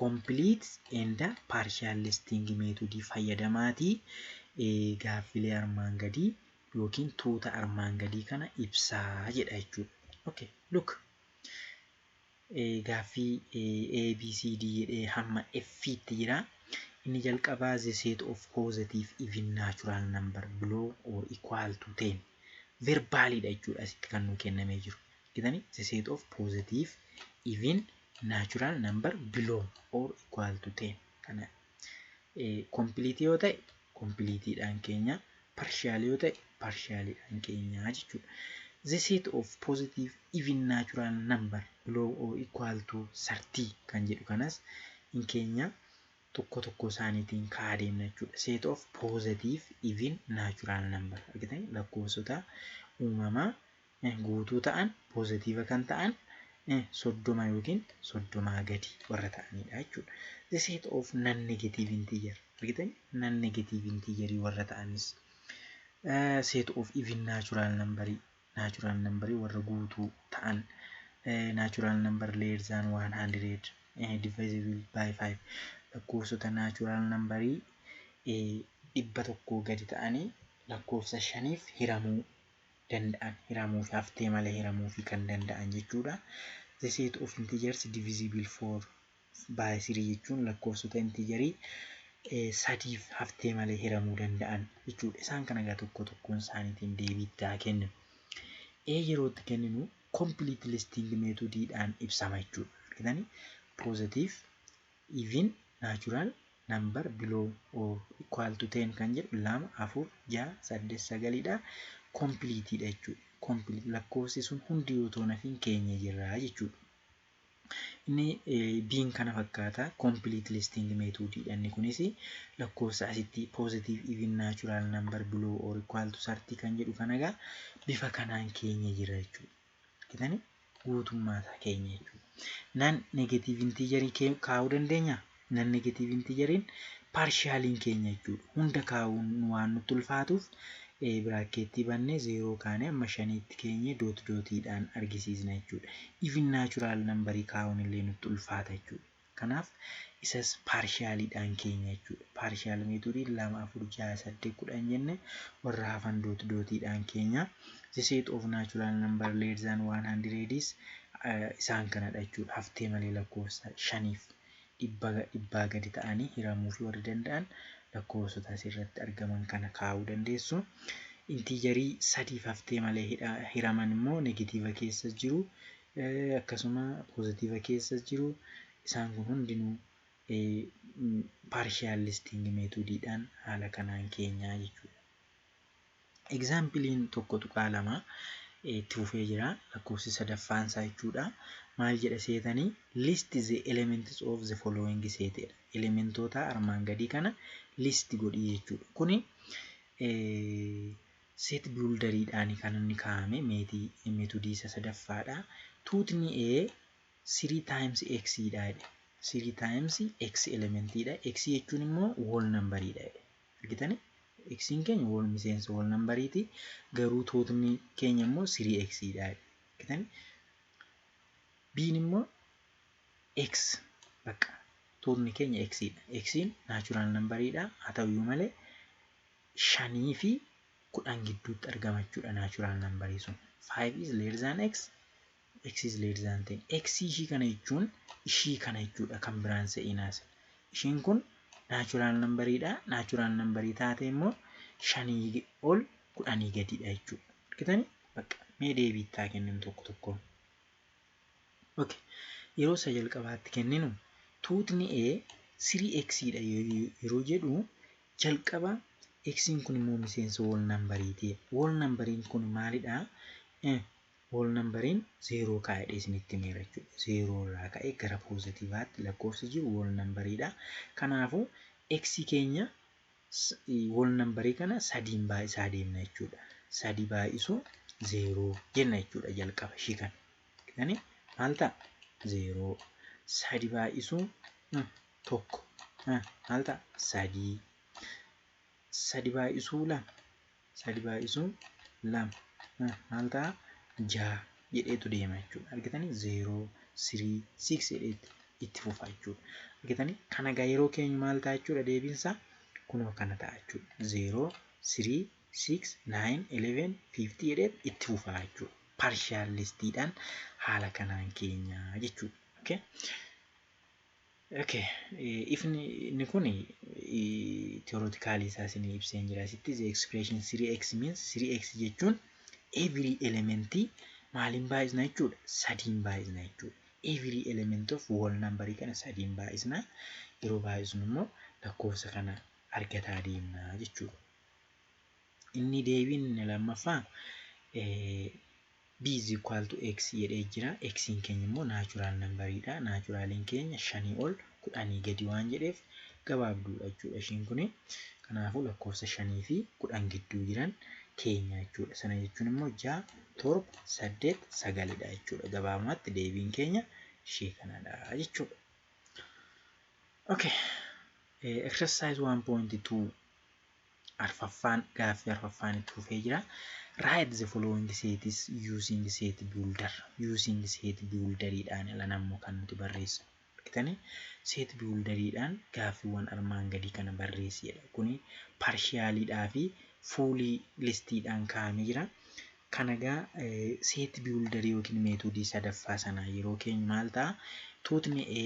Complete and partial listing method fayyadamaatii eh, gaaffilee armaan gadii yookiin tuuta armaan gadii kana ibsaa jedha jechuudha. Okay, look. Gaaffii A, B, C, D jedhee hamma F tti jira. Inni jalqabaa the set of positive even natural number below or equal to 10 verbally dha jechuudha asitti kan nuu kennamee jiru. Argitanii? The set of positive even natural number below or equal to 10 kana Kompiiliitii yoo ta'e kompiiliitiidhaan keenya, parshiyaalii yoo ta'e parshiyaaliidhaan keenya jechuudha. The set of positive even natural number below or equal to 30 kan jedhu kanas hin keenya tokko tokko isaaniitiin ka'aa deemna jechuudha. Set of positive even natural number argitan lakkoofsota uumamaa guutuu ta'an, poozatiiva kan ta'an, soddoma yookiin soddomaa gadi warra ta'aniidha jechuudha. The set of non-negative integer. Argitanii? Non-negative integer warra ta'anis. Set of even natural number. Natural number warra guutuu ta'an. Natural number less than 100 divisible by 5. Lakkoofsota natural number dhibba tokkoo gadi ta'anii lakkoofsa shaniif hiramuu danda'an hiramuufi haftee malee hiramuufi kan danda'an jechuudha. The set of integers divisible for by 3 jechuun lakkoofsota integerii sadiif haftee malee hiramuu danda'an jechuudha. Isaan kana egaa tokko tokkoon isaaniitiin deebii itti haa kenninu. A yeroo itti kenninu complete listing method dhaan ibsama jechuudha. Argitanii positive even natural number below or equal to 10 kan jedhu 2 4 6 8 9 dha complete dha jechuudha complete lakkoofsi sun hundi yoo ta'u nafiin keenya jirra jechuudha inni biin kana fakkaata complete listing method dha inni kunis lakkoofsa asitti positive even natural number below or equal to 30 kan jedhu kana egaa bifa kanaan keenya jirra jechuudha argitani guutummaa isaa keenya jechuudha. Nan negatiiv intiijarii kaa'uu dandeenya. Nan negatiiv intiijariin paarshaaliin keenya jechuudha. Hunda kaa'uun waan nutti ulfaatuuf biraakkeettii bannee zeeroo kaanee amma shaniitti keenye doot dootiidhaan argisiisna jechuudha. Even naachuraal nambarii kaa'uun illee nutti ulfaata jechuudha. Kanaaf isas paarshaaliidhaan keenya jechuudha. Paarshaal meetodii 2, 4, 6, 8, 10 jenne warra hafan doot dootiidhaan keenya. The set of natural number less than 100 is isaan kanadha jechuudha. Haftee malee lakkoofsa shaniif dhibbaa gadi ta'anii hiramuufi warri danda'an lakkoofsota asirratti argaman kana kaa'uu dandeessu. Intiijarii sadiif haftee malee hiraman immoo negatiiva keessa jiru akkasuma positive keessas jiru isaan kun hundinuu partial listing method dhaan haala kanaan keenyaa jechuudha. Example'n 1.2 itti fufee jira lakkoofsi sadaffaan isaa jechuudha. Maal jedha seetanii list the elements of the following set jedha. Elementoota armaan gadii kana list godhii jechuudha. Kuni Seet Biwuldariidhaan kan inni kaa'ame meetodii isa sadaffaadha. Tuutni A sirii taayims X dha jedhe. Sirii taayims X elementiidha. X jechuun immoo wool nambariidha jedhe. Argitani? X'n keenya wool miseensa wool nambariiti. Garuu tuutni keenya immoo sirii X dha jedhe. Argitani? B'n immoo X bakka tuutni keenya X dha. X'n naachuraal nambariidha. Haa ta'uyyuu malee 5 fi 10 gidduutti argama jechuudha natural number sun 5 is less than x x is less than 10 x ishii kana jechuun ishii kana jechuudha kan biraan se'inaas ishiin kun natural number dha natural number taate immoo 5 ol 10 gadiidha jechuudha argitanii bakka mee deebiittaa kenninu tokko tokkoon okay yeroo isa jalqabaatti kenninu tuutni a 3x dha yeroo jedhu Jalqaba Xn kun immoo miseensa whole number ti. Whole number kun maalidha? Whole number 0 kaa'i jedhee isinitti himeera jechuudha. 0 irraa ka'ee gara poozatiivaatti lakkoofsi jiru whole number dha. Kanaafuu X keenya whole number kana sadiin baay'isaa deemna jechuudha. Sadi baay'isuu 0 jenna jechuudha jalqaba ishii kana. Kani maal ta'a? 0. Sadi baay'isuu tokko eh, maal ta'a sadii sadi baay'isuu lama sadi baay'isuu lama eh, maal ta'a jaha jedheetu deema jechuudha argitanii zeeroo sirii siiks jedheetti itti fufa jechuudha argitanii kana egaa yeroo keenyu maal ta'a jechuudha deebiinsaa kunoo kana ta'a jechuudha zeeroo sirii siiks naayin eleven fiiftii jedhee itti fufa jechuudha parshaal listiidhaan haala kanaan keenya jechuudha okay? Okay. Eh, ifni inni kun theoretically isaa isinii ibsee hin jira. Asitti the expression 3x means 3x jechuun every element maaliin baay'isna jechuudha? Sadiin baay'isna jechuudha. Every element of whole number kana sadiin baay'isna. Yeroo baay'isnu immoo lakkoofsa kana argataa deemna jechuudha. Inni deebiin inni lammaffaa eh, B is equal to X jedhee jira. X'n keenya immoo naachuraal nambariidha. Naachuraaliin keenya shanii ol kudhanii gadi waan jedheef gabaabduudha jechuudha ishiin kuni. Kanaafuu lakkoofsa shanii fi kudhan gidduu jiran keenya jechuudha. Sana jechuun immoo ja'a, torba, saddeet, sagalidha jechuudha. Gabaabumatti deebiin keenya ishee kanadha jechuudha. Okay. Exercise 1.2 arfaffaan gaaffii arfaffaan itti fufee jira. Write the following sets using set builder. Using set builderiidhaan ilan ammoo kan nuti barreessu. Argitanii set builderiidhaan gaaffiiwwan armaan gadii kana barreessi jedha. Kuni parshiyaaliidhaa fi fuulii listiidhaan kaa'amee jira. Kana egaa set builderii yookiin meetoodii sadaffaa sanaa yeroo keenyu maal ta'a? Tuutni A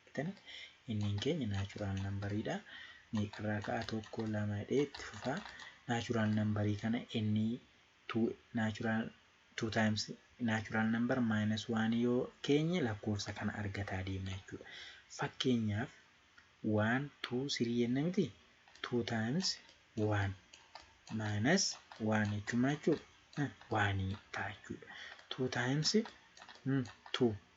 Argitan inniin keenya naachuraal nambariidha. Meeqarraa ka'a tokko lama jedhee itti fufa. Naachuraal nambarii kana inni tuu naachuraal tuu taayims naachuraal nambar maayinas waan yoo keenye lakkoofsa kana argataa deemna jechuudha. Fakkeenyaaf waan tuu sirii jenna miti tuu taayims waan maayinas waan jechuun maal jechuudha? Waanii ta'a jechuudha. Tuu taayims tuu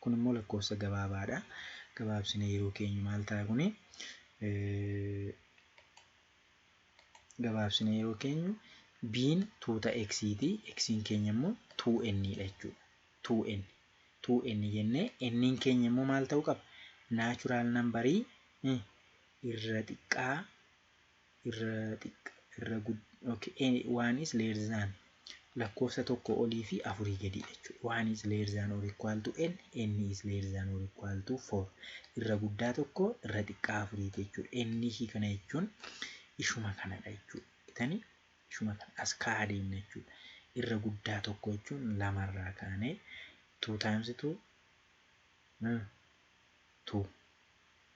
Kun immoo lakkoofsa gabaabaadha. Gabaabsine yeroo keenyu maal ta'a kuni? Gabaabsine yeroo keenyu biin tuuta x ti. X'n keenya immoo 2n dha jechuudha. 2n 2n jennee n'n keenya immoo maal ta'uu qaba? Naachuraal nambarii irra xiqqaa irra xiqqa irra gud okay any one is less than lakkoofsa tokko olii fi afurii gadii jechuudha. One is less than or equal to n, n is less than or equal to four. Irra guddaa tokko irra xiqqaa afurii jechuudha. N ishii kana jechuun ishuma kanadha jechuudha. Itanii ishuma kana as kaa'aa deemna jechuudha. Irra guddaa tokko jechuun lamarraa kaanee two times two hmm, two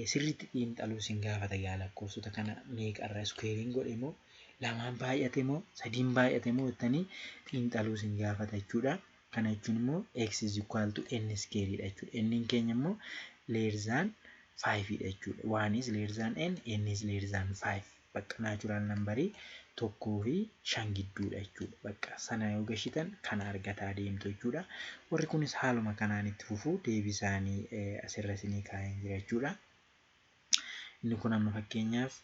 ee sirriitti xiinxaluu isin gaafata egaa lakkoofsota kana meeqa irra iskuweeriin godhe moo lamaan baay'ate moo sadiin baay'ate moo jettanii xiinxaluu isin gaafata jechuudha kana jechuun immoo x is equal to n iskeerii dha jechuudha n'n keenya immoo leerzaan 5 dha jechuudha 1 is leerzaan n n is leerzaan 5 bakka natural number tokkoo fi shan gidduudha jechuudha. Bakka sana yoo gashitan kana argataa deemtu jechuudha. Warri kunis haaluma kanaan itti fufu deebii isaanii asirra isinii kaa'een jira jechuudha. Inni kun amma fakkeenyaaf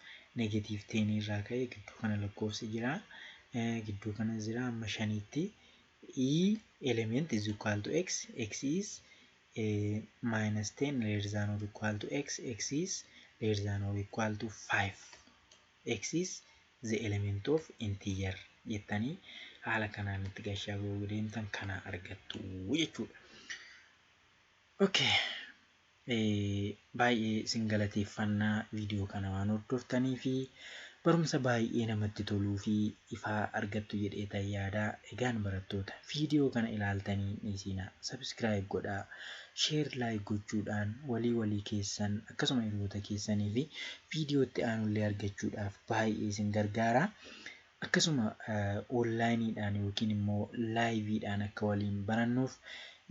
negatiiv teenii irraa ka'ee gidduu kana lakkoofsi jira. Gidduu kana jira amma shaniitti. E element is equal to x, x is minus 10 less than or equal to x, x is less than or equal to 5. x is the element of integer jettanii haala kanaan itti gashaa yoo deemtan kana argattu jechuudha. Okay. Baay'ee isin galateeffanna video kana waan hordoftaniifi barumsa baay'ee namatti toluu fi ifaa argattu jedheetan yaada egaan barattoota video kana ilaaltanii hin dhiisiina subscribe godhaa share like gochuudhaan walii walii keessan akkasuma hiriyoota keessaniifi video itti aanullee argachuudhaaf baay'ee isin gargaara Akkasuma onlaayiniidhaan yookiin immoo laayiviidhaan akka waliin barannuuf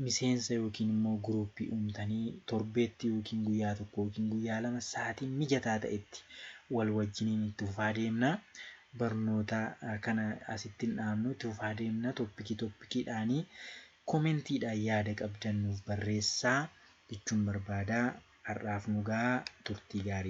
miseensa yookiin immoo guruuppii uumtanii torbeetti yookiin guyyaa tokko yookiin guyyaa lama sa'aatii mijataa ta'etti wal wajjiniin itti fufaa deemna. Barnoota kana asitti hin dhaabnu itti fufaa deemna toppikii toppikiidhaanii komentiidhaan yaada qabdan nuuf barreessaa jechuun barbaada. Har'aaf nu gahaa turtii gaarii.